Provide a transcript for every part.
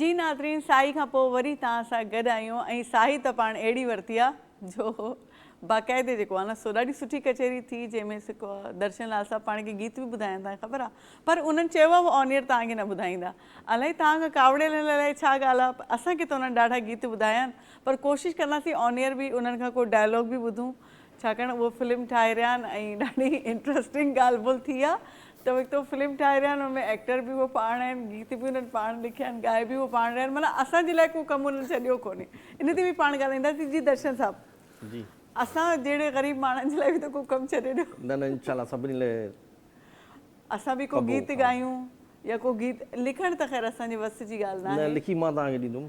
جي ناظرين ساهي کان پوء وري توهان سان گڏ آهيون ۽ ساهي ته پاڻ اهڙي ورتي آ جو باقاعدي جيڪو آ نه سو ڏاڍي سٺي ڪچهري ٿي جنهن ۾ سڪو درشن لال صاحب پاڻ کي گيت به ٻڌايا توهان کي خبر آ پر انهن چيو آ هو آن ايئر توهان کي نه ٻڌائيندا الائي توهان کان ڪاوڙيل الائي ڇا ڳالهه آ اسان کي ته انهن ڏاڍا گيت ٻڌايا آهن پر ڪوشش ڪنداسين آن ايئر به انهن کان ڪو ڊائلاگ به ٻڌون ڇاڪاڻ اهو فلم ٺاهي رهيا آهن ۽ ڏاڍي انٽرسٽنگ ڳالهه بولهه ٿي آهي ته هڪ ته هو فلم ٺاهي رهيا آهن ان ۾ ايڪٽر به هو پاڻ آهن گيت به انهن پاڻ لکيا آهن ڳائي به هو پاڻ رهيا آهن معنيٰ اسان جي لاء ڪو ڪم انهن ڇڏيو ڪونهي ان تي به پاڻ ڳالهائينداسين جي درشن صاحب جي اسان جهڙي غريب ماڻهن جي لاء به ته ڪو ڪم ڇڏي ڏيو نه نه انشاء الله سڀني لاء اسان به ڪو گيت ڳايون يا ڪو گيت لکڻ ته خير اسان جي وس جي ڳالهه ناهي نه لکي مان توهان کي ڏيندم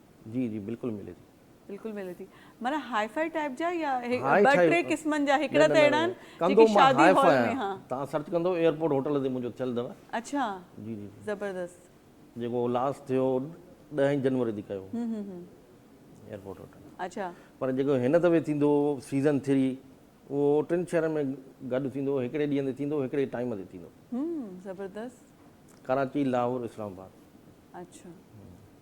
جي جي بلڪل ملي ٿي. بلڪل ملي ٿي معنيٰ هائي فائي ٽائيپ جا يا ٻه ٽي قسمن جا هڪڙا ته اهڙا آهن جيڪي شادي هال ۾ ها. تان سرچ ڪندو ايئرپورٽ هوٽل تي منهنجو ٿيل اٿو. اڇا جي جي زبردست. جيڪو لاس ٿيو ڏهين جنوري تي ڪيو هو ايئرپورٽ هوٽل. اڇا پر جيڪو هن دفعي ٿيندو سيزن ٿري اهو ٽن شهرن ۾ گڏ ٿيندو هڪڙي ڏينهن تي ٿيندو هڪڙي ٽائيم تي ٿيندو. هوم زبردست. ڪراچي لاهور اسلام آباد. اڇا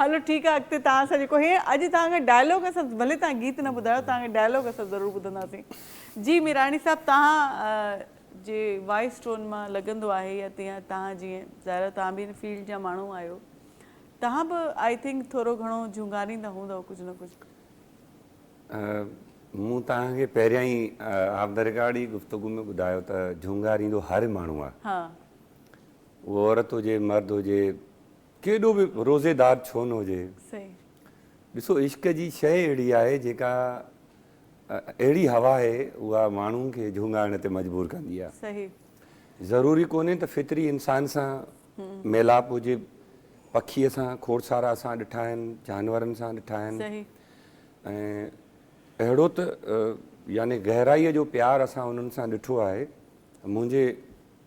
هلو ٺيڪ آ اڳتي توهان سان جيڪو هي اڄ توهان کي ڊائلاگ اسان ڀلي توهان گيت نه ٻڌايو توهان کي ڊائلاگ اسان ضرور ٻڌنداسين جي ميراڻي صاحب توهان جي وائس ٽون مان لڳندو آهي يا تيان توهان جيئن ظاهر توهان به ان فيلڊ جا ماڻهو آهيو توهان به آئي ٿنڪ ٿورو گهڻو جهونگاريندا هوندؤ ڪجهه نه ڪجهه مون توهان کي پهريان ئي آف دا رڪارڊ ئي گفتگو ۾ ٻڌايو ته جهونگاريندو هر ماڻهو آهي اهو عورت هجي مرد هجي ڪيڏو به روزيدار ڇو نه هجي. ڏسو عشق جي شيء اهڙي آهي جيڪا اهڙي هوا آهي اها ماڻهو کي جهونگائڻ تي مجبور ڪندي آهي. ضروري ڪونهي ته فطري انسان سان ميلاپ هجي. پکي اسان کوڙسارا اسان ڏٺا آهن، جانورن سان ڏٺا آهن ۽ اهڙو ته يعني گهرائيء جو پيار اسان انهن سان ڏٺو آهي. منهنجي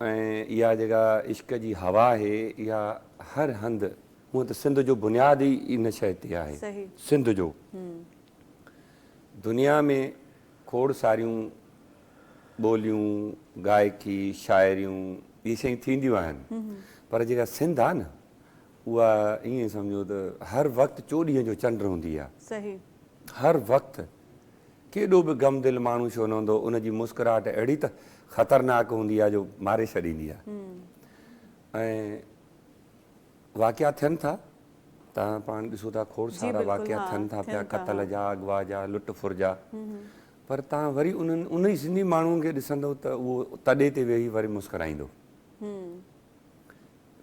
۽ اها جيڪا عشق جي هوا آهي اها هر هنڌ هونئن ته سنڌ جو بنياد ئي ان شيء تي آهي سنڌ جو دنيا ۾ کوڙ ساريون ٻوليون گائڪي شاعريون اهي شيون ٿينديون آهن پر جيڪا سنڌ آهي نه اها ائين سمجهو ته هر وقت چوڏهينء جو چنڊ هوندي آهي هر وقت ڪيڏو به گم دل ماڻهو ڇو نه هوندو، ان جي مسڪراهٽ اهڙي ته خطرناڪ هوندي آهي جو ماري ڇڏيندي آهي. ۽ واقعا ٿين ٿا، تهان پاڻ ڏسو ٿا کوڙ سارا واقعا ٿين ٿا پيا قتل جا، اغوا جا، لٽ ڦر جا، پر تهان وري انهن انهي سنڌي ماڻهن کي ڏسندو ته اهو تڏي تي ويهي وري مسڪرائيندو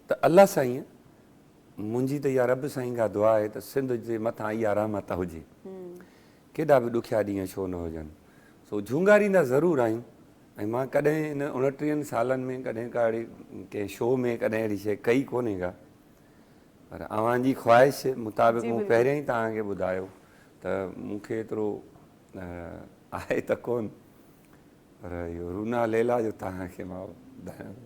ته الله سائين منهنجي ته اها رب سائين کان دعا آهي ته سنڌ جي مٿان اها رحمت هجي. ڪيڏا به ڏکيا ڏينهن ڇو نه هجن، سو جهونگاريندا ضرور آهيون ۽ مان ڪڏهن ان اڻٽيهن سالن ۾ ڪڏهن ڪا اهڙي ڪنهن شو ۾ ڪڏهن اهڙي شيء ڪئي ڪونهي ڪا، پر اوهان جي خواهش مطابق مون پهريان ئي توهان کي ٻڌايو ته مون کي ايترو آهي ته ڪونه، پر اهو رونا ليلا جو توهان کي مان ٻڌايان ٿو.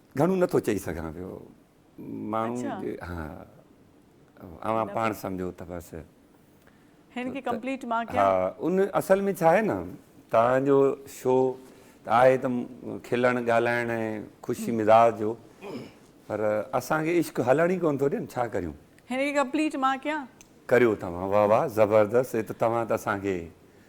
گهڻو نه ٿو چئي سگهان پيو ماڻهو جي ها اوهان پاڻ سمجهو ته بس هن کي ڪمپليٽ مان ڪيان ها ان اصل ۾ ڇا آهي نه توهان جو شو ته آهي ته کلڻ ڳالهائڻ ۽ خوشي مزاج جو پر اسان کي عشق هلڻ ئي ڪونه ٿو ڏين ڇا ڪريون هن کي ڪمپليٽ مان ڪيان. ڪريو توهان واهه واهه زبردست هي ته توهان ته اسان کي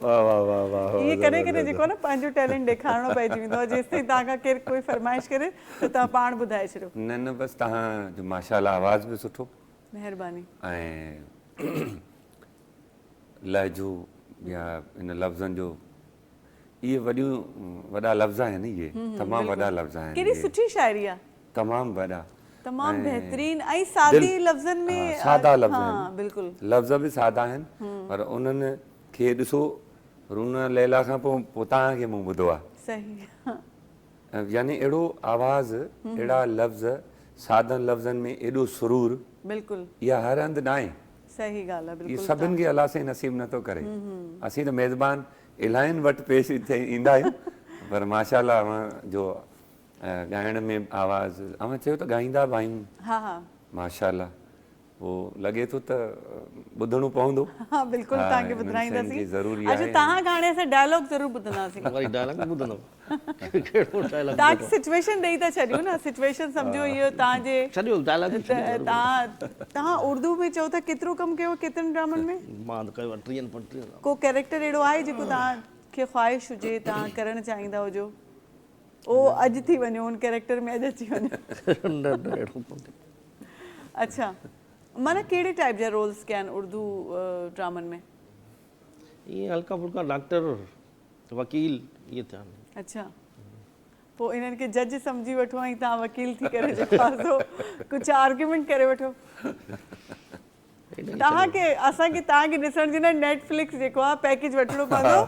واه واه واه واه واه ائين ڪڏهن ڪڏهن جيڪو آهي نه پنهنجو ٽيلنٽ ڏيکارڻو پئجي ويندو آهي جيستائين توهان کان ڪير ڪوئي فرمائش ڪري ته توهان پاڻ ٻڌائي ڇڏيو. نه نه بس توهان جو ماشاءالله آواز به سٺو. مهرباني. ۽ لهجو يا ان لفظن جو اهي وڏيون وڏا لفظ آهن اهي تمام وڏا لفظ آهن اهي. ڪيڏي سٺي شاعري آهي. تمام وڏا تمام بهترين ۽ سادي لفظن ۾ ها سادا لفظ آهن ها بلڪل لفظ به سادا آهن پر انهن کي ڏسو رونا ليلا کان پو پو توهان کي مون ٻڌو آهي صحيح يعني اهڙو آواز اهڙا لفظ سادن لفظن ۾ ايڏو سرور بلڪل اها هر هنڌ ناهي صحيح ڳالهه آهي بلڪل سڀن کي الله سائين نصيب نٿو ڪري اسين ته ميزبان الاهين وٽ پيش ايندا آهيون پر ماشاء الله اوهان جو ڳائڻ ۾ آواز اوهان چيو ته ڳائيندا به آهيون. ها ها. ماشاءالله پو لڳي ٿو ته ٻڌڻو پوندو. ها بلڪل توهان کي ٻڌرائينداسين. اچو توهان کان هاڻي اسان ڊائلاگ ضرور ٻڌنداسين. وري ڊائلاگ به ٻڌندؤ. ڪهڙو ڊائلاگ. توهان کي سچويشن ڏئي ٿا ڇڏيون نه سچويشن سمجهو اهو توهان جي. ڇڏيو ڊائلاگ ته ڇڏيو. توهان توهان اردو ۾ چئو ٿا ڪيترو ڪم ڪيو ڪيترن ڊرامن ۾. مان ته ڪيو آهي ٽيهن پنجٽيهن. ڪو ڪيريڪٽر اهڙو آهي جيڪو توهان کي خواهش هجي توهان ڪرڻ چاهيندا هجو. او اڄ ٿي وڃو ان ڪيريڪٽر ۾ اڄ اچي وڃو اڇا معنيٰ ڪهڙي ٽائيپ جا رولز ڪيا آهن اردو ڊرامن ۾ ائين هلڪا ڦلڪا ڊاڪٽر وڪيل اهي ٿيا آهن اڇا پوء انهن کي جج سمجهي وٺو ۽ تهان وڪيل ٿي ڪري ڏيکارجو ڪجهه آرگيومينٽ ڪري وٺو توهان کي اسان کي توهان کي ڏسڻ جي لاء نيٽ فلڪس جيڪو آهي پيڪيج وٺڻو پوندو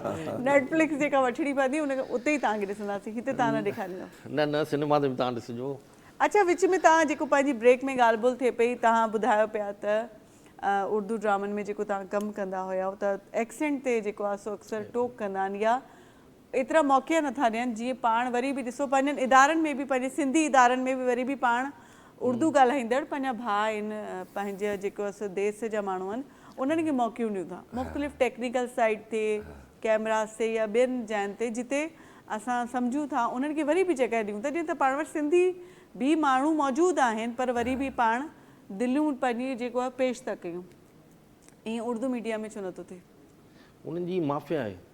نيٽ فلڪس جيڪا وٺڻي پوندي ان اتي ئي توهان کي ڏسنداسين هتي توهان نه ڏيکاريندو. نه نه سينيما تي به توهان ڏسجو. اڇا وچ ۾ توهان جيڪو پنهنجي بريڪ ۾ ڳالهه ٻولهه ٿئي پئي توهان ٻڌايو پيا ته اردو ڊرامن ۾ جيڪو توهان ڪم ڪندا هياو ته ايڪسينٽ تي جيڪو آهي سو اڪثر ٽوڪ ڪندا آهن يا ايترا موقعا نٿا ڏين جيئن پاڻ وري به ڏسو پنهنجن ادارن ۾ به پنهنجي سنڌي ادارن ۾ به وري به پاڻ اردو ڳالهائيندڙ پنهنجا ڀاء آهن پنهنجي جيڪو اسان ديس جا ماڻهو آهن انهن کي موقعون ڏيون ٿا مختلف ٽيڪنيڪل سائيڊ تي ڪيمراز تي يا ٻين جاين تي جتي اسان سمجهون ٿا انهن کي وري به جڳهه ڏيون ٿا جيئن ته پاڻ وٽ سنڌي به ماڻهو موجود آهن پر وري به پاڻ دليون پنهنجي جيڪو آهي پيش ٿا ڪيون ائين اردو ميڊيا ۾ ڇو نٿو ٿئي. انهن جي مافيا آهي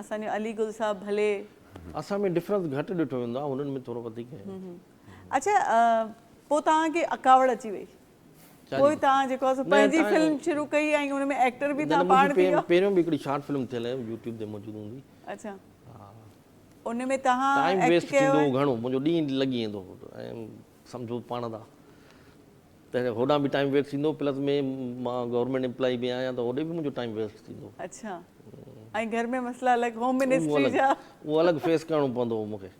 اسان جو علي گل صاحب ڀلي. اسان ۾ ڊفرنس گهٽ ڏٺو ويندو آهي هنن ۾ ٿورو وڌيڪ آهي. اڇا پوء توهان کي اڪاوڙ اچي وئي پوء توهان جيڪو آهي سو پنهنجي فلم شروع ڪئي ۽ ان ۾ ايڪٽر به توهان پاڻ ٿي ويا. پهريون به هڪڙي شارٽ فلم ٿيل آهي يوٽيوب تي موجود هوندي. اڇا ان ۾ توهان ٽائيم ويسٽ ٿيندو هو گهڻو منهنجو ڏينهن لڳي ويندو هو ۽ سمجهو پاڻ دا. تنهنڪري هوڏانهن به ٽائيم ويسٽ ٿيندو پلس ۾ مان گورنمينٽ امپلائي به آهيان ته هوڏي به منهنجو ٽائيم ويسٽ ٿيندو. اڇا ۽ گهر ۾ مسئلا الڳ هوم منسٽري جا. اهو الڳ فيس ڪرڻو پوندو مونکي.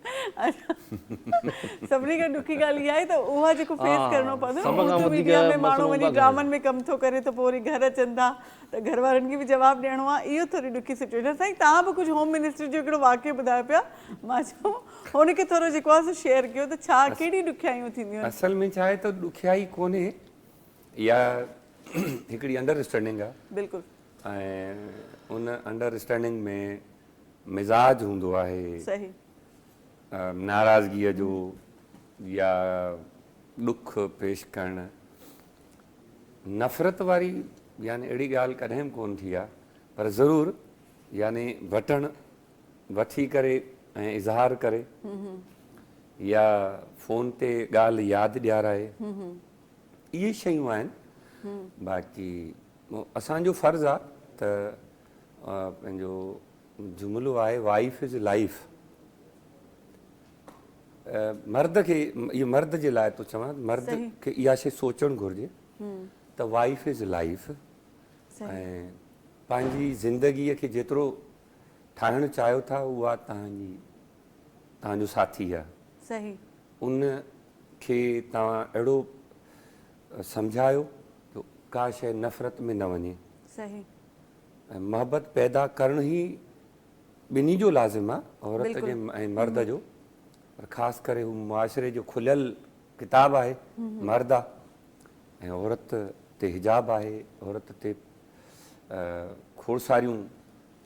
سڀني کان ڏکي ڳالهه اها آهي ته اها جيڪو فيس ڪرڻو پوندو سڀ کان وڌيڪ ميڊيا ۾ ماڻهو وڃي ڊرامن ۾ ڪم ٿو ڪري ته پوء وري گهر اچن ٿا ته گهر وارن کي به جواب ڏيڻو آهي اهو ٿوري ڏکي سچويشن سائين توهان به ڪجهه هوم منسٽري جو هڪڙو واقعو ٻڌايو پيا مان چيو ان کي ٿورو جيڪو آهي سو شيئر ڪيو ته ڇا ڪهڙي ڏکيائيون ٿينديون آهن؟ اصل ۾ ڇا آهي ته ڏکيائي ڪونهي اها هڪڙي انڊر اسٽينڊنگ آهي بلڪل ۽ ان انڊر اسٽينڊنگ ۾ مزاج هوندو آهي صحيح ناراضگيء جو يا ڏک پيش ڪرڻ نفرت واري يعني اهڙي ڳالهه ڪڏهن به ڪونه ٿي آهي پر ضرور يعني وٽڻ وٺي ڪري ۽ اظهار ڪري يا فون تي ڳالهه ياد ڏيارائي اهي شيون آهن باقي اسان جو فرض آ ته پنهنجو جملو آهي وائيف از لائيف مرد کي اهو مرد جي لاء ٿو چوان مرد کي اها شي سوچڻ گهرجي ته وائيف از لائيف ۽ پنهنجي زندگي کي جيترو ٺاهڻ چاهيو ٿا اها توهان جي توهان جو ساٿي آهي صحيح ان کي توهان اهڙو سمجهايو جو ڪا شيء نفرت ۾ نه وڃي صحيح ۽ محبت پيدا ڪرڻ هي ٻنهي جو لازم آهي عورت جو ۽ مرد جو پر خاص ڪري هو معاشري جو کليل ڪتاب آهي مرد آهي ۽ عورت تي حجاب آهي عورت تي کوڙ ساريون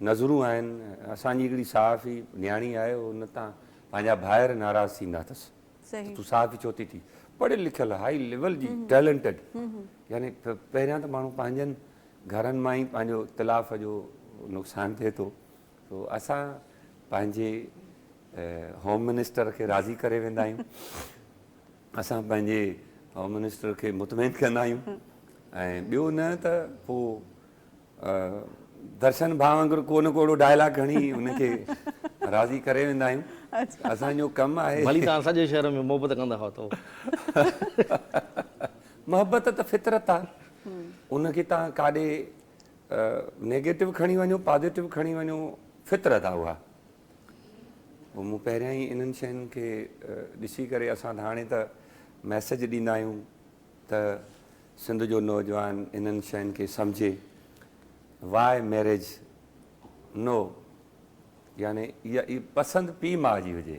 نظرون آهن. اسان جي هڪڙي صحافي نياڻي آهي ان تان پنهنجا ڀائر ناراض ٿيندا اٿس ته تون صحافي ڇو ٿي ٿي. پڙهيل لکيل هاء ليول جي ٽيلنٽڊ يعني پهريان ته ماڻهو پنهنجن گهرن مان ئي پنهنجو تلاف جو نقصان ٿئي ٿو. سو اسان پنهنجي هوم منسٽر کي راضي ڪري ويندا آهيون اسان پنهنجي هوم منسٽر کي مطمئن ڪندا آهيون ۽ ٻيو نه ته پوء درشن ڀاء وانگر ڪو نه ڪوڙو ڊائلاگ هڻي ان کي راضي ڪري ويندا آهيون اسان جو ڪم آهي ڀلي تان سڄي شهر ۾ محبت ڪندا هئا تو محبت ته فطرت آهي ان کي تان ڪاڏي نيگيٽو کڻي وڃو پازيٽو کڻي وڃو فطرت آ اها پوء مون پهريان ئي انهن شين کي ڏسي ڪري اسان ته هاڻي ته ميسيج ڏيندا آهيون ته سنڌ جو نوجوان انهن شين کي سمجهي واء ميريج نو يعني اها پسند پيء ماء جي هجي.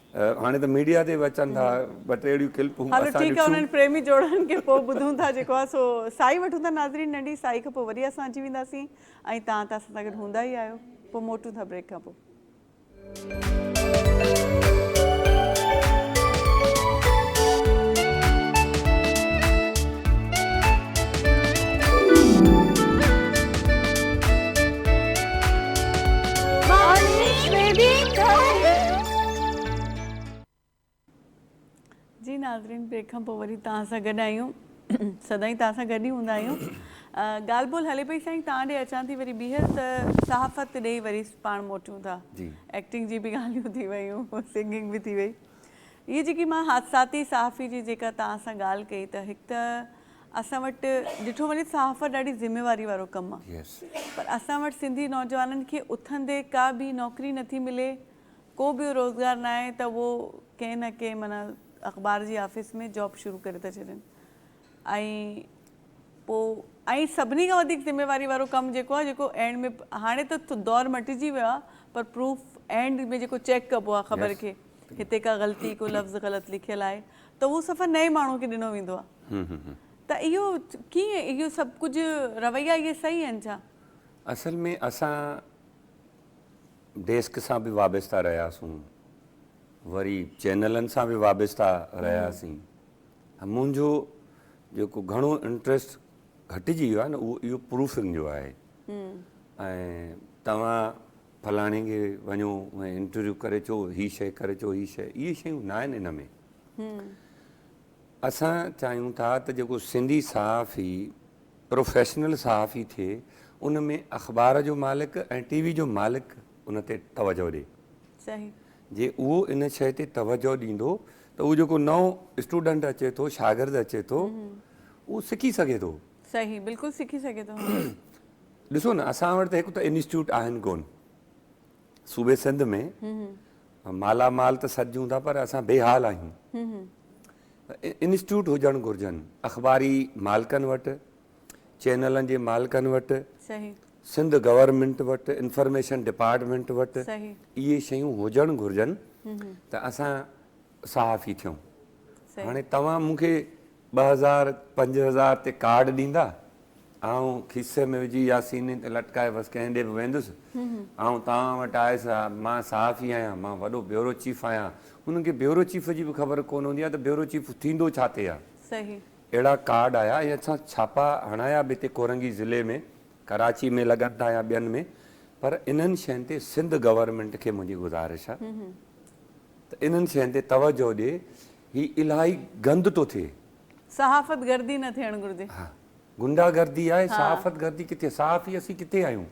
هاڻي ته ميڊيا تي به اچن ٿا ٻه ٽي اهڙيون ڪلپون هلو اسان ٺيڪ آهي ڏٺيون. انهن پريمي جوڙن کي پوء ٻڌون ٿا جيڪو آهي سو سائي وٺون ٿا ناظرين ننڍي سائي کان پوء وري اسان اچي وينداسين ۽ تهان ته اسان سان گڏ هوندا ئي آهيو پوء موٽون ٿا بريڪ کان پوء. جي ناظرين بريڪ کان پوء وري توهان سان گڏ آهيون سدائين توهان سان گڏ ئي هوندا آهيون ڳالهه ٻولهه هلي پئي سائين توهان ڏي اچان ٿي وري ٻيهر ته صحافت ڏي وري پاڻ موٽيون ٿا ايڪٽنگ جي به ڳالهيون ٿي ويون سنگنگ به ٿي وئي هي جيڪي مان حادثاتي صحافي جي جيڪا توهان سان ڳالهه ڪئي ته هڪ ته اسان وٽ ڏٺو وڃي صحافت ڏاڍي ذميواري وارو ڪم آهي پر اسان وٽ سنڌي نوجوانن کي اٿندي ڪا ٻي نوڪري نٿي ملي ڪو ٻيو روزگار ناهي ته اهو ڪنهن نه ڪنهن معنيٰ اخبار جي آفيس ۾ جاب شروع ڪري ٿا ڇڏين ۽ پوء ۽ سڀني کان وڌيڪ ذميواري وارو ڪم جيڪو آهي جيڪو اينڊ ۾ هاڻي ته دور مٽجي ويو آهي پر پروف اينڊ ۾ جيڪو چيڪ ڪبو آهي خبر کي هتي ڪا غلطي ڪو لفظ غلط لکيل آهي ته اهو صفحه نئين ماڻهو کي ڏنو ويندو آهي ته اهو ڪيئن اهو سڀ ڪجهه رويا اهي صحيح آهن ڇا؟ اصل ۾ اسان ڊيسڪ سان به وابسته رهياسون، وري چينلن سان به وابسته رهياسين. منهنجو جيڪو گهڻو انٽريسٽ گهٽجي ويو آهي نه اهو اهو پروفنگ جو آهي ۽ توهان فلاڻي کي وڃو ۽ انٽرويو ڪري اچو، هي شي ڪري اچو، هي شي، اهي شيون نه آهن ان ۾. اسان چاهيون ٿا ته جيڪو سنڌي صحافي پروفيشنل صحافي ٿئي ان ۾ اخبار جو مالڪ ۽ ٽي وي جو مالڪ ان تي توجهه ڏئي. صحيح. جي اهو ان شيء تي توجهه ڏيندو ته اهو جيڪو نئون اسٽوڊنٽ اچي ٿو شاگرد اچي ٿو اهو سکي سگهي ٿو. صحيح بلڪل سکي سگهي ٿو. ڏسو نه اسان وٽ ته هڪ ته انسٽيٽيوٽ آهن ڪون. صوبي سنڌ ۾ مالا مال ته سڏجون ٿا پر اسان بي حال آهيون انسٽيٽيوٽ هجڻ گهرجن اخباري مالڪن وٽ چينلن جي مالڪن وٽ سنڌ گورنمنٽ وٽ انفارميشن ڊپارٽمنٽ وٽ اهي شيون هجڻ گهرجن ته اسان صحافي ٿيون هاڻي توهان مون کي ٻه هزار پنج هزار تي ڪارڊ ڏيندا آئون کيسي ۾ وجهي يا سيني تي لٽڪائي بس ڪنهن ڏي به ويندس آئون توهان وٽ آيس ها مان صحافي آهيان مان وڏو بيورو چيف آهيان انهن کي بيورو چيف جي به خبر ڪونه هوندي آهي ته بيورو چيف ٿيندو ڇا تي آهي اهڙا ڪارڊ آيا ۽ اسان ڇاپا هڻايا به هتي ڪورنگي ضلعي ۾ ڪراچي ۾ لڳن ٿا يا ٻين ۾ پر انهن شين تي سنڌ گورنمينٽ کي منهنجي گذارش آهي ته انهن شين تي توجهه ڏي هي الاهي گند ٿو ٿئي. صحافت گردي نه ٿيڻ گهرجي. ها گنڊا گردي آهي صحافت گردي ڪٿي صحافي اسين ڪٿي آهيون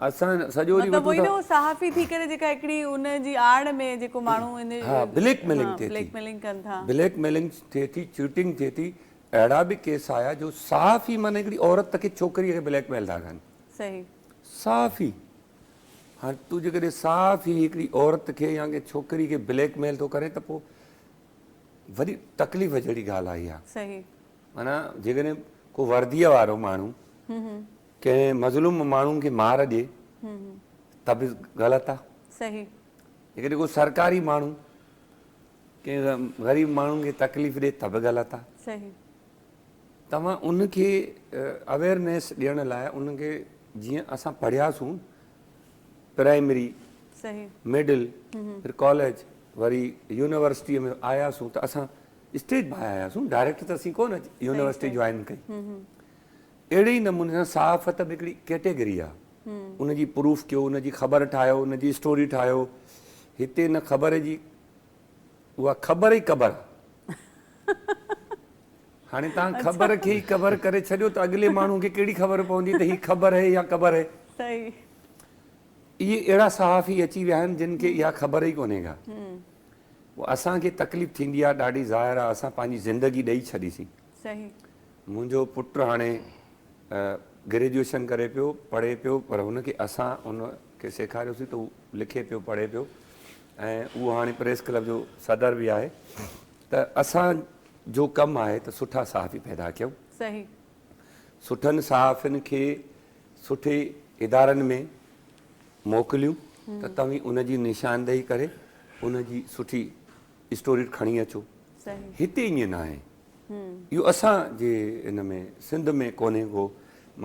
اسان سڄو ڏينهن وٺون ٿا. صحافي ٿي ڪري جيڪا هڪڙي ان جي آڙ ۾ جيڪو ماڻهو ها بليڪ ميلنگ ٿئي ٿي بليڪ ميلنگ ٿئي ٿي چيٽنگ ٿئي ٿي اهڙا به ڪيس آيا جو صحافي معنيٰ هڪڙي عورت کي ڇوڪري کي بليڪ ميل ٿا ڪن صحيح صحافي. هاڻي تون جيڪڏهن صاف ئي هڪڙي عورت کي يا ڪنهن ڇوڪري کي بليڪ ميل ٿو ڪرين ته پوء وڏي تڪليف جهڙي ڳالهه آهي اها. صحيح. معنيٰ جيڪڏهن ڪو ورديء وارو ماڻهو ڪنهن مظلوم ماڻهو کي مار ڏي ته به غلط آهي. صحيح. جيڪڏهن ڪو سرڪاري ماڻهو ڪنهن غريب ماڻهو کي تڪليف ڏي ته به غلط آهي. صحيح. توهان ان کي اويئرنيس ڏيڻ لاء ان کي جيئن اسان پڙهياسون پرائمري صحيح مڊل پھر ڪاليج وري يونيورسٽي ۾ آياسون ته اسان اسٽيج باء آياسون ڊائريڪٽ ته اسين ڪونه يونيورسٽي جوائن ڪئي اهڙي ئي نموني سان صحافت به هڪڙي ڪيٽيگري آهي ان جي پروف ڪيو ان جي خبر ٺاهيو ان جي اسٽوري ٺاهيو هتي ان خبر جي اها خبر ئي قبر آ. هاڻي توهان خبر کي ئي قبر ڪري ڇڏيو ته اڳلي ماڻهوء کي ڪهڙي خبر پوندي ته هي خبر هي يا قبر هي. صحيح. اهي اهڙا صحافي اچي ويا آهن جن کي اها خبر ئي ڪونهي ڪا. اسان کي تڪليف ٿيندي آ ڏاڍي ظاهر آ اسان پنهنجي زندگي ڏئي ڇڏي سين. صحيح. منهنجو پٽ هاڻي گريجوئيشن ڪري پيو پڙهي پيو پر هن کي اسان ان کي سيکاريوسين ته هو لکي پيو پڙهي پيو ۽ اهو هاڻي پريس ڪلب جو صدر به آهي ته اسان جو ڪم آهي ته سٺا صحافي پيدا ڪيون صحيح. سٺن صحافين کي سٺي ادارن ۾ موڪليون ته توهين ان جي نشاندهي ڪري ان جي سٺي اسٽوريٽ کڻي اچو هتي ائين ناهي اهو اسان جي ان ۾ سنڌ ۾ ڪونهي ڪو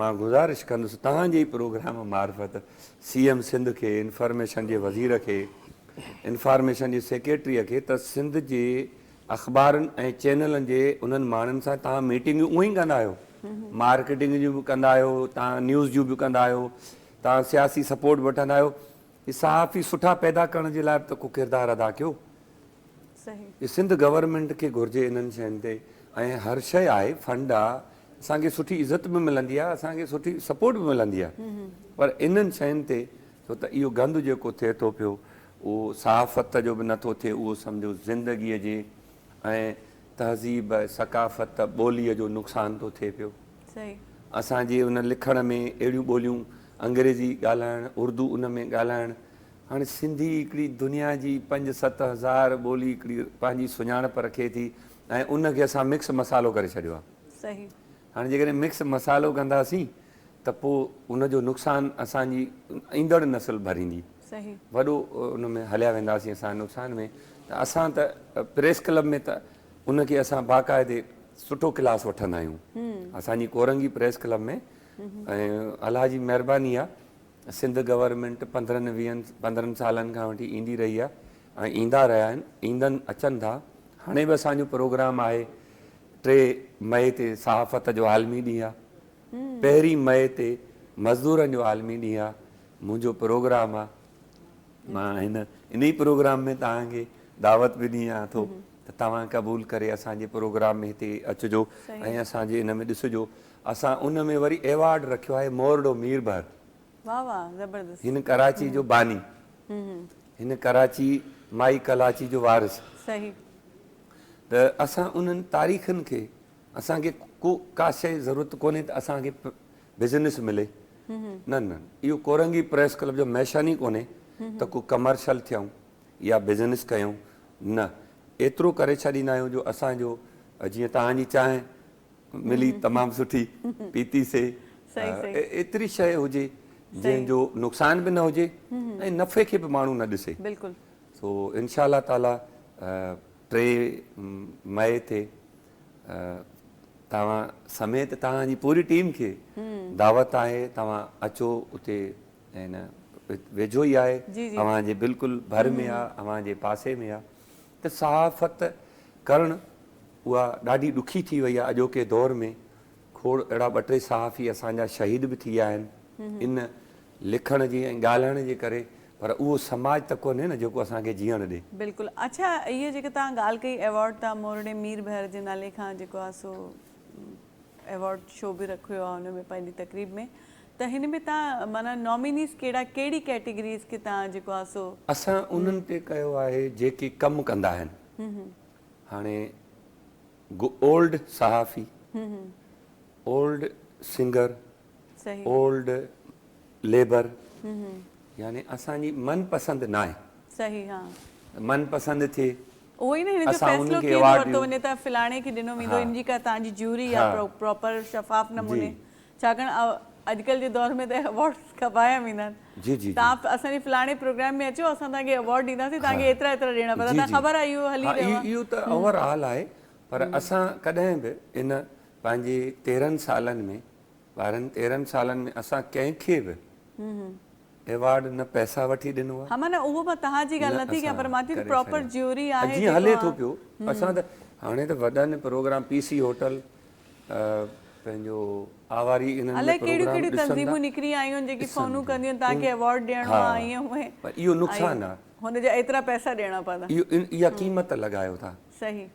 مان گذارش ڪندس توهان جي ئي پروگرام معرفت سي ايم سنڌ کي انفارميشن جي وزير کي انفارميشن جي سيڪريٽري کي ته سنڌ جي اخبارن ۽ چينلن جي انهن ماڻهن سان توهان ميٽنگون اونهي ڪندا آهيو مارڪيٽنگ جون به ڪندا آهيو توهان نيوز جون به ڪندا آهيو توهان سياسي سپورٽ وٺندا آهيو هي صحافي سٺا پيدا ڪرڻ جي لاء به ته ڪو ڪردار ادا ڪيو. صحيح. سنڌ گورنمينٽ کي گهرجي انهن شين تي ۽ هر شي آهي فنڊ آ اسان کي سٺي عزت به ملندي آ اسان کي سٺي سپورٽ به ملندي آ پر انهن شين تي ڇو ته اهو گند جيڪو ٿئي ٿو پيو اهو صحافت جو به نه ٿو ٿئي اهو سمجهو زندگي جي ۽ تهذيب ثقافت ٻولي جو نقصان ٿو ٿئي پيو. اسان جي ان لکڻ ۾ اهڙيون ٻوليون انگريزي ڳالهائڻ، اردو ان ۾ ڳالهائڻ، هاڻي سنڌي هڪڙي دنيا جي پنج ست هزار ٻولي هڪڙي پنهنجي سڃاڻپ رکي ٿي ۽ ان کي اسان مڪس مصالحو ڪري ڇڏيو آهي. هاڻي جيڪڏهن مڪس مصالحو ڪنداسين ته پوء ان جو نقصان اسان جي ايندڙ نسل ڀريندي. وڏو ان ۾ هليا وينداسين اسان نقصان ۾ ته اسان ته پريس ڪلب ۾ ته ان کي اسان باقاعدي سٺو ڪلاس وٺندا آهيون اسان جي ڪورنگي پريس ڪلب ۾ ۽ الله جي مهرباني آهي سنڌ گورنمينٽ پندرهن ويهن پندرهن سالن کان وٺي ايندي رهي آهي ۽ ايندا رهيا آهن ايندن اچن ٿا هاڻي به اسان جو پروگرام آهي ٽي مئي تي صحافت جو عالمي ڏينهن آهي پهرين مئي تي مزدورن جو عالمي ڏينهن آهي منهنجو پروگرام آهي مان هن انهي پروگرام ۾ توهان کي دعوت به ڏيان ٿو ته توهان قبول ڪري اسان جي پروگرام ۾ هتي اچجو ۽ اسان جي ان ۾ ڏسجو اسان ان ۾ وري ايوارڊ رکيو آهي مورڙو مير بحر واھ واھ زبردست هن ڪراچي جو باني هن ڪراچي مائي ڪلاچي جو وارث صحيح ته اسان انهن تاريخن کي اسان کي ڪو ڪا شيء ضرورت ڪونهي ته اسان کي بزنس ملي. نه نه اهو ڪورنگي پريس ڪلب جو ميشن ئي ڪونهي ته ڪو ڪمرشل ٿيون يا بزنس ڪيون نه ايترو ڪري ڇڏيندا آهيون جو اسان جو جيئن توهان جي چانهه ملي تمام سٺي پيتي سي ايتري شيء هجي جنهن جو نقصان به نه هجي ۽ نفعي کي به ماڻهو نه ڏسي سو انشاء الله تعالي ٽي مئي تي توهان سميت توهان جي پوري ٽيم کي دعوت آهي توهان اچو اتي ۽ ويجهو ئي آهي اوهان جي بلڪل ڀر ۾ آهي اوهان جي پاسي ۾ آهي ته صحافت ڪرڻ اها ڏاڍي ڏکي ٿي وئي آهي اڄوڪي دور ۾ کوڙ اهڙا ٻه ٽي صحافي اسان جا شهيد به ٿي ويا آهن ان لکڻ جي ۽ ڳالهائڻ جي ڪري پر اهو سماج ته ڪونهي نه جيڪو اسان کي جيئڻ ڏي. بلڪل اڇا اهي جيڪي توهان ڳالهه ڪئي ايوارڊ تان مورڙي مير ڀير جي نالي کان جيڪو آ سو ايوارڊ شو به رکيو آ ان ۾ پنهنجي تقريب ۾ ته هن ۾ توهان معنيٰ نامينيز ڪهڙا ڪهڙي ڪيٽيگريز کي توهان جيڪو آ سو. اسان انهن تي ڪيو آهي جيڪي ڪم ڪندا آهن هاڻي. اولڊ صحافي، اولڊ سنگر، اولڊ ليبر يعني اسان جي من پسند ناهي. صحيح ها. من پسند ٿئي. اهو ئي نه هن جو فيصلو ڪيئن ورتو وڃي ته فلاڻي کي ڏنو ويندو ان جي ڪا تان جي جيوري آ پراپر شفاف نموني ڇاڪاڻ اڄڪلهه جي دور ۾ ته ايوارڊ کٻايا ويندا آهن. توهان اسان جي فلاڻي پروگرام ۾ اچو اسان توهان کي ايوارڊ ڏينداسين توهان کي ايترا ايترا ڏيڻا پوندا توهان کي خبر آهي اهو هلي رهيو آهي. اهو ته اوور آل آهي پر اسان ڪڏهن به ان پنهنجي تيرهن سالن ۾ ٻارهن تيرهن سالن ۾ اسان ڪنهن کي به ايوارڊ نه پئسا وٺي ڏنو آهي. ها معنيٰ اهو مان تهان جي ڳالهه نٿي ڪيان پر مان ٿي پراپر جيوري آهي جيڪو ها. جيئن هلي ٿو پيو اسان ته هاڻي ته وڏن پروگرام پي سي هوٽل. پنهنجو آواري انهن ۾ پروگرام ڏسندا. الائي ڪهڙيون ڪهڙيون تنظيمون نڪري آيون جيڪي فونون ڪنديون تان کي ايوارڊ ڏيڻو آ ائين ائين. پر اهو نقصان آ. هن جا ايترا پئسا ڏيڻا پوندا. اهو اها قيمت لڳايو ٿا. صحيح.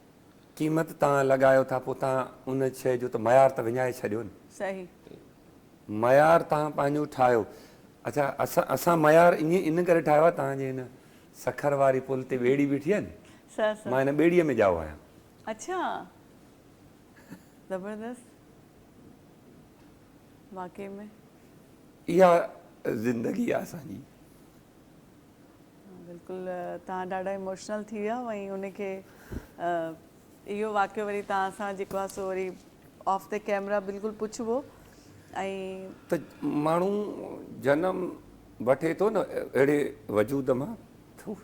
قيمت تان لڳايو ٿا پو تان ان شئي جو ته معيار ته وڃائي ڇڏيو نه. صحيح. معيار تان پنهنجو ٺاهيو. اڇا اسان اسان معيار ائين ان ڪري ٺاهيو آ تان جي هن سکر واري پل تي ٻيڙي بيٺي آ نه. سا سا. مان هن ٻيڙيء ۾ ڄائو آهيان. اڇا. زبردست واقعي ۾. اها زندگي آ اسان جي. بلڪل توهان ڏاڍا ايموشنل ٿي ويا ۽ ان کي اهو واقعو وري توهان سان جيڪو آ سو وري آف دي ڪيمرا بلڪل پڇبو ۽ ته ماڻهو جنم وٺي ٿو نه اهڙي وجود مان ٿو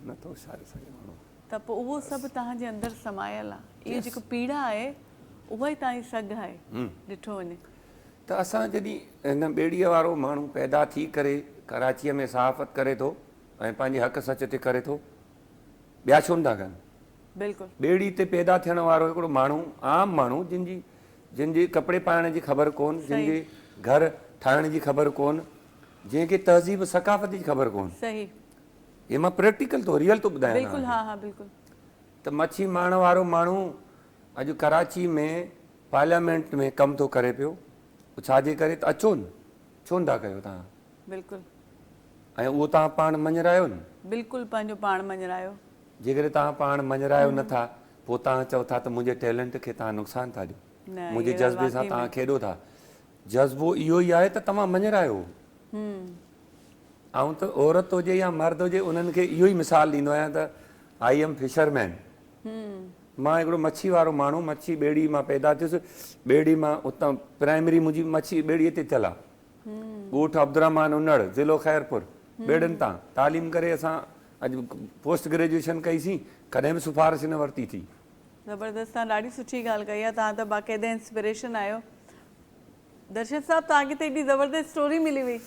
نه ٿو ساري سگهي ماڻهو ته پوء اهو سڀ توهان جي اندر سمايل آ. اهو جيڪو پيڙا آهي، اها ئي توهان جي سگهه آهي، ڏٺو وڃي. ته اسان جڏهن هن ٻيڙيء وارو ماڻهو پيدا ٿي ڪري ڪراچيء ۾ صحافت ڪري ٿو ۽ پنهنجي حق سچ تي ڪري ٿو، ٻيا ڇو نٿا ڪن؟ بلڪل. ٻيڙي تي پيدا ٿيڻ وارو هڪڙو ماڻهو، عام ماڻهو، جنهن جي جنهن جي ڪپڙي پائڻ جي خبر ڪون، جنهن جي گهر ٺاهڻ جي خبر ڪون، جنهن کي تهذيب ثقافت جي خبر ڪون، صحيح. هي مان پريڪٽيڪل ٿو ريئل ٿو ٻڌايان بلڪل ها ها بلڪل. ته مڇي مارڻ وارو ماڻهو اڄ ڪراچي ۾ پارليامينٽ ۾ ڪم ٿو ڪري پيو اهو ڇا جي ڪري ته اچو نه ڇو نه ٿا ڪيو تهان بلڪل. ۽ اهو تهان پاڻ مڃرايو نه. بلڪل پنهنجو پاڻ مڃرايو. جيڪڏهن تهان پاڻ مڃرايو نه ٿا پوء تهان چئو ٿا ته منهنجي ٽيلنٽ کي تهان نقصان ٿا ڏيو منهنجي جذبي سان تهان کيڏو ٿا جذبو اهو ئي آهي ته توهان مڃرايو. آئون ته عورت هجي يا مرد هجي انهن کي اهو ئي مثال ڏيندو آهيان ته آئي ايم فشر مين مان هڪڙو مڇي وارو ماڻهو مڇي ٻيڙي مان پيدا ٿيس ٻيڙي مان اتان پرائمري منهنجي مڇي ٻيڙي تي ٿيل آهي ڳوٺ عبدالرحمان انڙ ضلعو خيرپور ٻيڙين تان تعليم ڪري اسان اڄ پوسٽ گريجوئيشن ڪئي سين ڪڏهن به سفارش نه ورتي ٿي زبردست تان ڏاڍي سٺي ڳالهه ڪئي آهي تان ته باقاعده انسپريشن آهيو درشد صاحب توهان کي ته ايڏي زبردست اسٽوري ملي وئي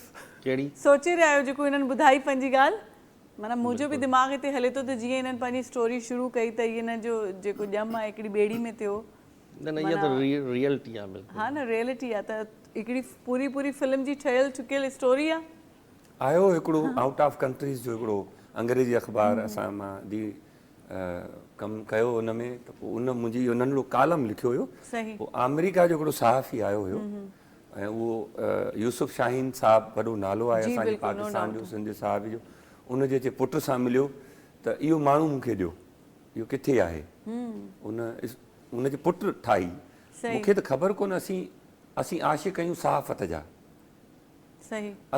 ڪهڙي؟ سوچي رهيا آهيو جيڪو هنن ٻڌائي پنهنجي ڳالهه معنيٰ منهنجو به دماغ هتي هلي ٿو ته جيئن هنن پنهنجي اسٽوري شروع ڪئي ته هن جو جيڪو ڄم آهي هڪڙي ٻيڙي ۾ ٿيو نه نه اها ته ريئلٽي آهي بلڪل ها نه ريئلٽي آهي ته هڪڙي پوري پوري فلم جي ٺهيل ٺڪيل اسٽوري آهي. آهيو هڪڙو آئوٽ آف ڪنٽريز جو هڪڙو انگريزي اخبار اسان مان دي ڪم ڪيو ان ۾ ته پوء ان منهنجي اهو ننڍڙو ڪالم لکيو هيو پوء آمريڪا جو هڪڙو صحافي آيو هيو ۽ اهو يوسف شاهين صاحب وڏو نالو آهي اسان جي پاڪستان جو سنڌ جي صحافي جو ان جي اچي پٽ سان مليو ته اهو ماڻهو مون کي ڏيو اهو ڪٿي آهي ان ان جي پٽ ٺاهي مون کي ته خبر ڪونه اسين اسين عاشق آهيون صحافت جا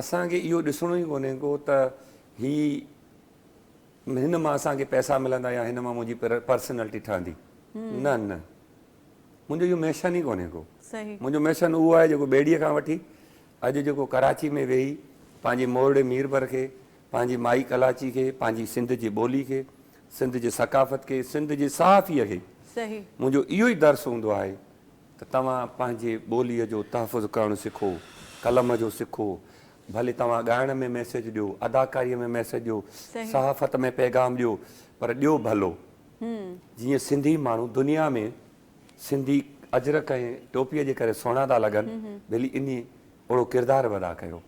اسان کي اهو ڏسڻو ئي ڪونهي ڪو ته هي هن مان اسان کي پئسا ملندا يا هن مان منهنجي پرسنالٽي ٺهندي. نه نه منهنجو اهو ميشن ئي ڪونهي ڪو. منهنجو ميشن اهو آهي جيڪو ٻيڙيء کان وٺي اڄ جيڪو ڪراچي ۾ ويهي پنهنجي مورڙي ميربر کي، پنهنجي مائي ڪلاچي کي، پنهنجي سنڌ جي ٻولي کي، سنڌ جي ثقافت کي، سنڌ جي صحافيء کي منهنجو اهو ئي درس هوندو آهي ته توهان پنهنجي ٻوليء جو تحفظ ڪرڻ سکو، قلم جو سکو، ڀلي توهان ڳائڻ ۾ ميسيج ڏيو، اداڪاريء ۾ ميسيج ڏيو، صحافت ۾ پيغام ڏيو پر ڏيو ڀلو. جيئن سنڌي ماڻهو دنيا ۾ سنڌي اجرڪ ۽ ٽوپيء جي ڪري سهڻا ٿا لڳن، ڀلي انهي اوڙو ڪردار به ادا ڪيو.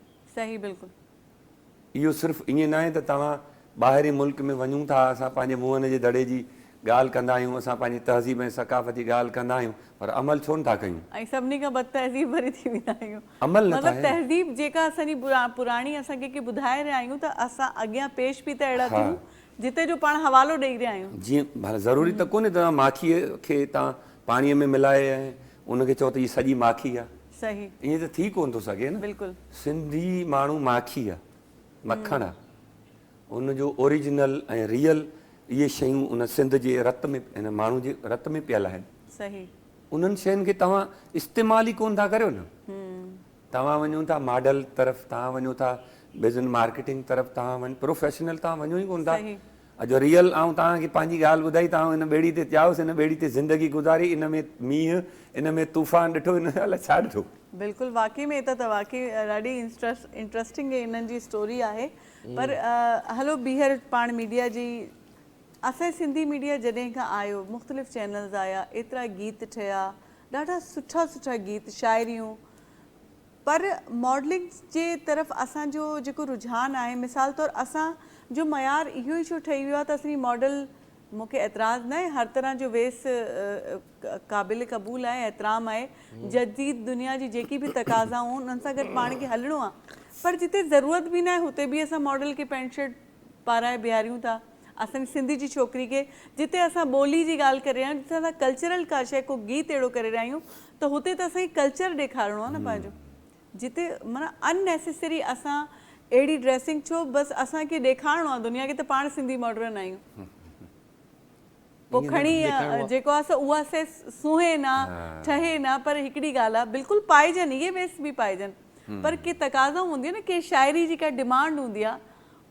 اهو صرف ائين ناهي ته توهان ٻاهرين ملڪ ۾ وڃون ٿا، اسان پنهنجي منهن جي دڙي جي ڳالهه ڪندا آهيون، اسان پنهنجي تهذيب ۽ ثقافت جي ڳالهه ڪندا آهيون پر عمل ڇو نه ٿا ڪيون؟ ۽ سڀني کان بد تهذيب وري ٿي ويندا آهيون. عمل نه ٿا مطلب هين. تهذيب جيڪا اسان جي پراڻي اسان ڪنهن کي ٻڌائي رهيا آهيون ته اسان اڳيان پيش به ته اهڙا ها. ٿيون جتي جو پاڻ حوالو ڏئي رهيا آهيون. جي ڀلا ضروري ته ڪونهي ته توهان ماکيء کي توهان پاڻيء ۾ ملائي ۽ ان کي چئو ته هي سڄي ماکي آ. صحيح. ائين ته ٿي ڪونه ٿو سگهي نه. بلڪل. سنڌي ماڻهو ماکي آ، مکڻ آ. ان جو اوريجنل ۽ ريئل اهي شيون ان سنڌ جي رت ۾ ان ماڻهو جي رت ۾ پيل آهن. صحيح. انهن شين کي توهان استعمال ئي ڪونه ٿا ڪريو نه. توهان وڃو ٿا ماڊل طرف توهان وڃو ٿا بزن مارڪيٽنگ طرف توهان وڃ پروفيشنل توهان وڃو ئي ڪونه ٿا. صحيح. اڄ ريئل آئون توهان کي پنهنجي ڳالهه ٻڌائي توهان ان ٻيڙي تي چاهيو سين ٻيڙي تي زندگي گذاري ان ۾ مينهن ان ۾ طوفان ڏٺو ان ۾ الاء ڇا ڏٺو. بلڪل واقعي ۾ هي ته واقعي ڏاڍي انٽرسٽنگ انهن جي اسٽوري آهي. پر هلو ٻيهر پاڻ ميڊيا جي اسان جي سنڌي ميڊيا جڏهن کان آيو مختلف چينلز آيا ايترا گيت ٺهيا ڏاڍا سٺا سٺا گيت شاعريون پر ماڊلنگ جي طرف اسان جو جيڪو رجحان آهي مثال طور اسان جو معيار اهو ئي ڇو ٺهي ويو آهي ته اسين ماڊل مون کي اعتراض ناهي هر طرح جو ويس قابل قبول آهي احترام آهي جديد دنيا جي جيڪي به تقاضائون انهن سان گڏ پاڻ کي هلڻو آهي پر جتي ضرورت به ناهي هتي به اسان ماڊل کي پينٽ شرٽ پارائي بيهاريون ٿا اسان جي سنڌ جي ڇوڪري کي جتي اسان ٻولي جي ڳالهه ڪري رهيا آهيون جتي اسان ڪلچرل ڪا شيء ڪو گيت اهڙو ڪري رهيا آهيون ته هتي ته اسان کي ڪلچر ڏيکارڻو آهي نه پنهنجو جتي معنيٰ ان نيسيسري اسان اهڙي ڊريسنگ ڇو بس اسان کي ڏيکارڻو آهي دنيا کي ته پاڻ سنڌي ماڊرن آهيون پوء کڻي جيڪو آهي سو اها سيس سونهين نه ٺهي نه پر هڪڙي ڳالهه آهي بلڪل پائجن اهي ويس به پائجن پر ڪي تقاضائون هونديون آهن نه ڪي شاعري جي ڪا ڊمانڊ هوندي آهي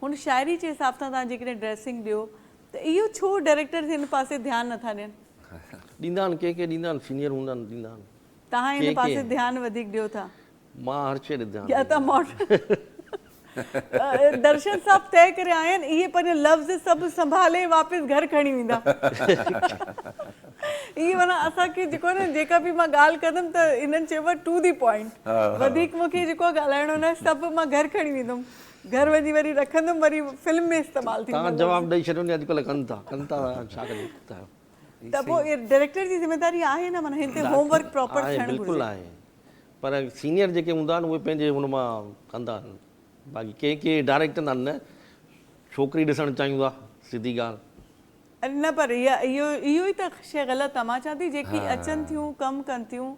هن شاعري جي حساب سان توهان جيڪڏهن ڊريسنگ ڏيو ته اهو ڇو ڊائريڪٽرز هن پاسي ڌيان نٿا ڏين. ڏيندا آهن ڪي ڪي ڏيندا آهن سينيئر هوندا آهن ڏيندا آهن. توهان هن پاسي ڌيان وڌيڪ ڏيو ٿا. مان هر شيء ڏي ڌيان ڏيندو درشن صاحب طئي ڪري آيا آهن اهي پنهنجا لفظ سڀ سنڀالي واپس گهر کڻي ويندا اهي معنيٰ اسان کي جيڪو آهي نه جيڪا به مان ڳالهه ڪندم ته هنن چيو آهي ٽو دي پوائنٽ وڌيڪ مون کي جيڪو آهي ڳالهائڻو نه آهي سڀ مان گهر کڻي ويندم گهر وڃي وري رکندم وري فلم ۾ استعمال ٿيندو تان جواب ڏئي ڇڏيو ني اڄڪلهه ڪن ٿا ڪن ٿا ڇا ڪجي ته پوء اهي ڊائريڪٽر جي ذميواري آهي نه معنيٰ هن تي هوم ورڪ پراپر ٿيڻ گهرجي. بلڪل آهي پر سينيئر جيڪي هوندا آهن اهي پنهنجي هن مان ڪندا آهن باقي ڪي ڪي ڊائريڪٽر نا نه ڇوڪري ڏسڻ چاهيون ٿا سڌي ڳالهه. نه پر اهو اهو ئي ته شي غلط آهي مان چوان ٿي جيڪي اچن ٿيون ڪم ڪن ٿيون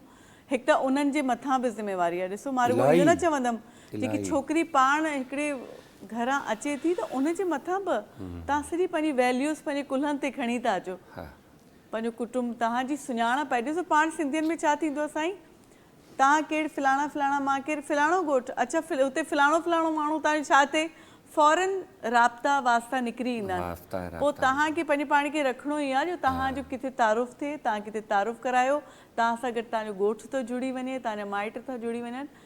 هڪ ته انهن جي مٿان به ذميواري آهي ڏسو مان رڳو اهو نه چوندم جيڪي ڇوڪري پاڻ هڪڙي گهران اچي ٿي ته ان جي مٿان به توهان سڄي پنهنجي ويليوز پنهنجي ڪلهن تي کڻي ٿا اچو پنهنجو ڪٽنب توهان جي سڃاڻپ آهي ڏسو پاڻ سنڌين ۾ ڇا ٿيندو آهي سائين توهان ڪير فلاڻا فلاڻا مان ڪير فلاڻو ڳوٺ اڇا هتي فلاڻو فلاڻو ماڻهو توهان جو ڇا ٿئي فورن رابطا واسطا نڪري ايندا آهن پوء توهان کي پنهنجي پاڻ کي رکڻو ئي آهي جو توهان جو ڪٿي تعارف ٿئي توهان ڪٿي تعارف ڪرايو توهان سان گڏ توهان جو ڳوٺ ٿو جڙي وڃي توهان جا مائٽ ٿا جڙي وڃن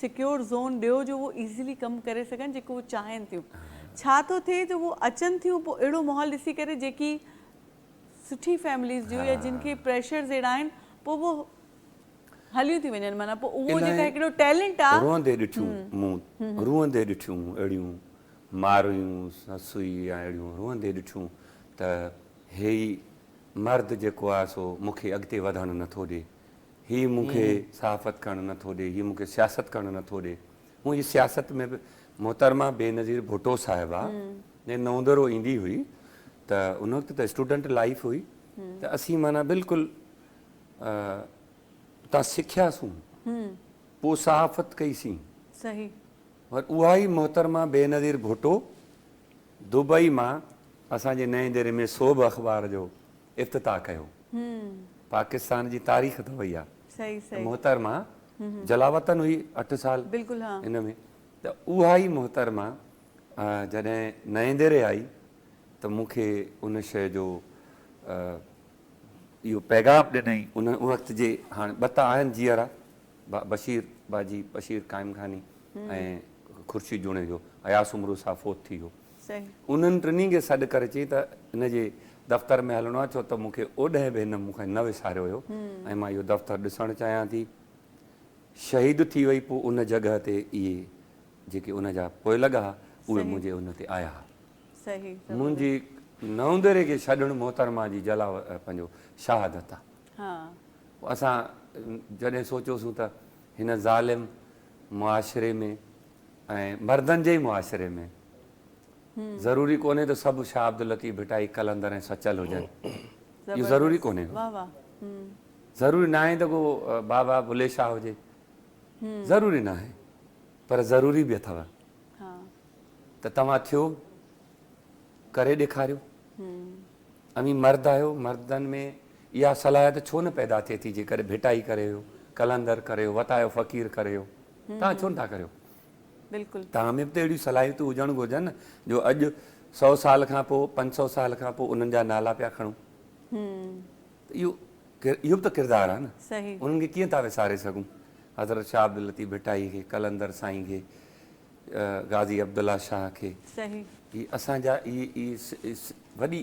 سيڪيور زون ڏيو جو هو ايزلي ڪم ڪري سگهن جيڪو هو چاهين ٿيون ڇا ٿو ٿئي جو هو اچن ٿيون پوء اهڙو ماحول ڏسي ڪري جيڪي سٺي فيمليز جون يا جن کي پريشرز اهڙا آهن پوء هو هليون ٿي وڃن معنيٰ پوء اهو جيڪا هڪڙو ٽيلنٽ آ روئندي ڏٺيون مون روئندي ڏٺيون اهڙيون مارئيون سسئي يا اهڙيون روئندي ڏٺيون ته هي ئي مرد جيڪو آ سو مونکي اڳتي وڌڻ نٿو ڏي هي مون کي صحافت ڪرڻ نه ٿو ڏي، هي مون کي سياست ڪرڻ نه ٿو ڏي. هونء ئي سياست ۾ به محترمه بينظير ڀٽو صاحبه جي نوندرو ايندي هئي ته ان وقت ته اسٽوڊنٽ لائيف هئي ته اسين معنيٰ بلڪل اتان سکياسون پوء صحافت ڪئي سين پر اها ئي محترمه بينظير ڀٽو دبئي مان اسان جي نئين ديري ۾ سوڀ اخبار جو افتتاح ڪيو پاڪستان جي تاريخ ته اهي آ ته محترمه جلاوطن هئي اٺ سال ان ۾ ته اها ئي محترمه جڏهن نئين ديري آئي ته مون کي ان شي جو اهو پيغام ڏنائين ان وقت جي هاڻ ٻه ته آهن جيئرا بشير باجي بشير قائم خاني ۽ خورشيد جوڻيجو اياز سومرو صاحب فوت ٿي ويو انهن ٽنهي کي سڏ ڪري چئي ته هن جي دفتر ۾ هلڻو آهي ڇو ته مون کي اوڏهين به هن مون کي نه وساريو هيو ۽ مان اهو دفتر ڏسڻ چاهيان ٿي. شهيد ٿي وئي پوء ان جڳهه تي اهي جيڪي ان جا پوئلڳ ها اهي منهنجي ان تي آيا ها. منهنجي نوندري کي ڇڏڻ محترمه جي جلا پنهنجو شهادت آهي. اسان جڏهن سوچيوسون ته هن ظالم معاشري ۾ ۽ مردن جي ئي معاشري ۾ ضروري ڪونهي ته سڀ شاهه عبداللطيف ڀٽائي قلندر ۽ سچل هجن اهو ضروري ڪونهي هو ضروري ناهي ته ڪو بابا بلي شاهه هجي ضروري ناهي پر ضروري به اٿو ته توهان ٿيو ڪري ڏيکاريو اوهين مرد آهيو مردن ۾ اها صلاحيت ڇو نه پيدا ٿئي ٿي جيڪڏهن ڀٽائي ڪري ويو قلندر ڪري ويو وتايو فقير ڪري ويو توهان ڇو نٿا ڪريو؟ بلڪل. توهان ۾ به ته اهڙيون صلاحيتون هجڻ گهرجن نه جو اڄ سؤ سال کان پوء پنج سؤ سال کان پوء انهن جا نالا پيا کڻون. ته اهو اهو به ته ڪردار آهي نه. صحيح. انهن کي ڪيئن ٿا وساري سگهون. حضرت شاهه عبداللطيف ڀٽائي کي، قلندر سائين کي، غازي عبدالله شاهه کي. صحيح. هي اسان جا اهي اهي وڏي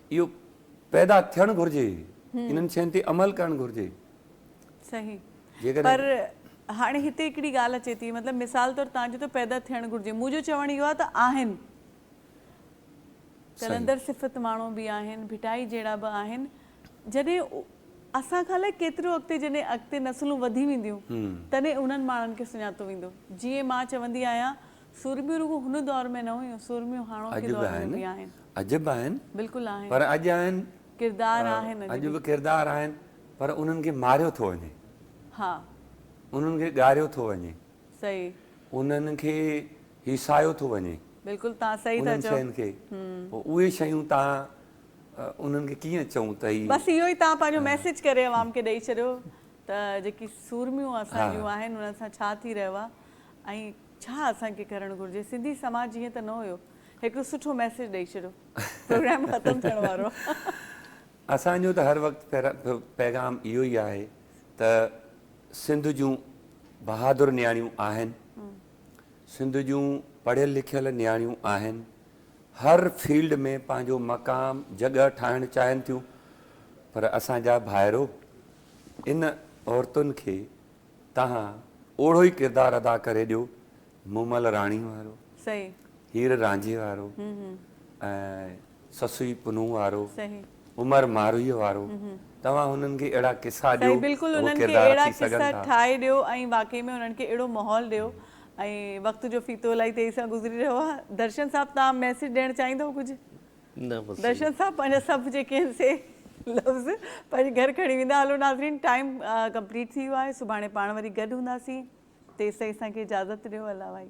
اهو پيدا ٿيڻ گهرجي انهن شين تي عمل ڪرڻ گهرجي. صحيح پر هاڻي هتي هڪڙي ڳالهه اچي ٿي مطلب مثال طور تان چيو ته پيدا ٿيڻ گهرجي منهنجو چوڻ اهو آهي ته آهن قلندر صفت ماڻهو به آهن ڀٽائي جهڙا به آهن جڏهن اسان کان الائي ڪيترو اڳتي جڏهن اڳتي نسلون وڌي وينديون تڏهن انهن ماڻهن کي سڃاتو ويندو جيئن مان چوندي آهيان سورميون رڳو هن دور ۾ نه هيون، سورميون هاڻوڪي دور ۾ به آهن. اڄ به آهن. بلڪل آهن. پر اڄ آهن. ڪردار آهن اڄ به. اڄ به ڪردار آهن پر انهن کي ماريو ٿو وڃي. ها. انهن کي ڳاريو ٿو وڃي. صحيح. انهن کي هيسايو ٿو وڃي. بلڪل تان صحيح ٿا چئو. انهن شين کي. پوء اهي شيون تان انهن کي ڪيئن چئون ته هي. بس اهو ئي تان پنهنجو ميسيج ڪري عوام کي ڏئي ڇڏيو ته جيڪي سورميون اسان جون آهن انهن سان ڇا ٿي رهيو آهي ۽. ڇا اسان کي ڪرڻ گهرجي سنڌي سماج ائين ته نه هيو هڪڙو سٺو ميسيج ڏئي ڇڏيو پروگرام ختم ٿيڻ وارو آ. اسان جو ته هر وقت پيغام اهو ئي آهي ته سنڌ جون بهادر نياڻيون آهن سنڌ جون پڙهيل لکيل نياڻيون آهن هر فيلڊ ۾ پنهنجو مقام جڳهه ٺاهڻ چاهين ٿيون پر اسان جا ڀائرو ان عورتن کي تهان اوڙهو ئي ڪردار ادا ڪري ڏيو مومل راڻي وارو، هير رانجهي وارو ۽ سسئي پنهون وارو، عمر مارويء وارو، توهان هنن کي اهڙا قصا ڏيو ته هو ڪردار اچي سگهن ٿا. ٺاهي ڏيو ۽ واقعي ۾ انهن کي اهڙو ماحول ڏيو ۽ وقت جو ڦيٿو الائي تيزي سان گذري رهيو آهي درشن صاحب توهان ميسيج ڏيڻ چاهيندؤ ڪجهه؟ درشن صاحب پنهنجا سڀ جيڪي آهن سي لفظ پنهنجي گهر کڻي ويندا هلو ناظرين ٽائيم ڪمپليٽ ٿي ويو آهي سڀاڻي پاڻ وري گڏ هونداسين تيستائين اسان کي اجازت ڏيو الله وائي